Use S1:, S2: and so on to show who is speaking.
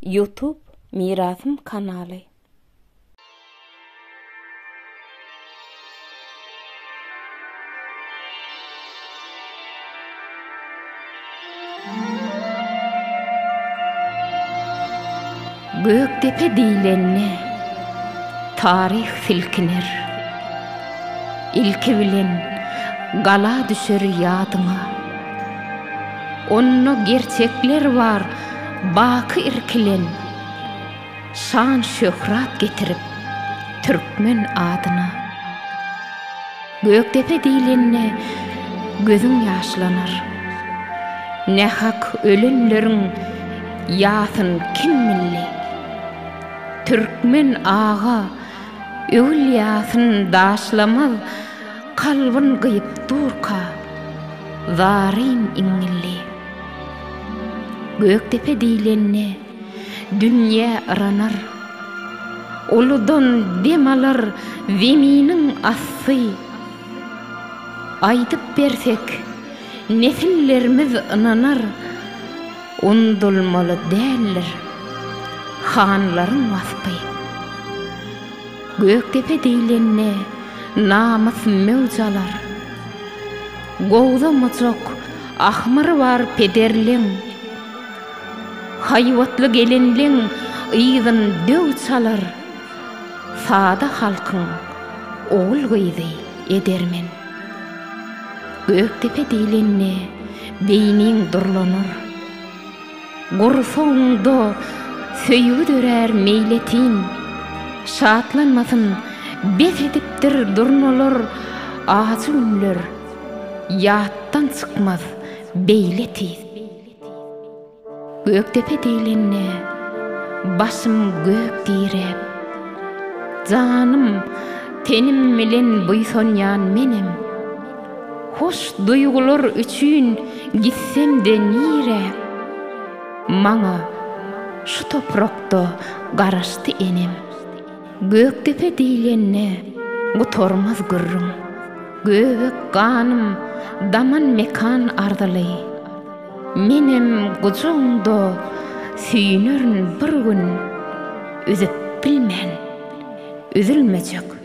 S1: Ýutub Mirasym kanaly. Gökdepe diýlende, taryh silkiner. Ilki bilen gala düşer ýadyňa. Onda gerçekler bar baky irkilen, Şan-şöhrat getirip türkmen adyna. Gökdepe diýlende gözüň ýaşlanar, Nähak ölenleriň ýasyn kim bildi? Türkmen aga öwülýasyn daşlamaz, Kalbyn gyýyp durka, zaryn iňňilli. Gökdepe diýlende, dünýe yranar. Uludan dem alar Zeminiň asty. Aýdyp bersek, nesillerimiz ynanar, Undulmaly däldir hanlaryň waspy. Gökdepe diýlende, namys möwç alar. Gowza mujak, ahmyry bar pederleň. Haýbatly gelinleň yzyn döw çalar. Sada halkyň ogul-gyzy edermen. Gökdepe diýlende, beýniň durlanar. Gursagymda söýgi dörär meýletin, Şatlanmasyn, bes edipdir durnalar, Ajy günler ýatdan çykmaz beýle tiz. Gökdepe diýlende, başym gök diräp, Janym, tenim bilen buýsanýan menem. Hoş duýgular üçin gitsem-de nirä, Maňa şu toprakda garaşdy enem. Gökdepe diýlende gutarmaz gürrüň, Göbek ganym daman mekan arzyly. Menem gujagyňda süýnerin bir gün, Üzüp bilmen, üzülmejek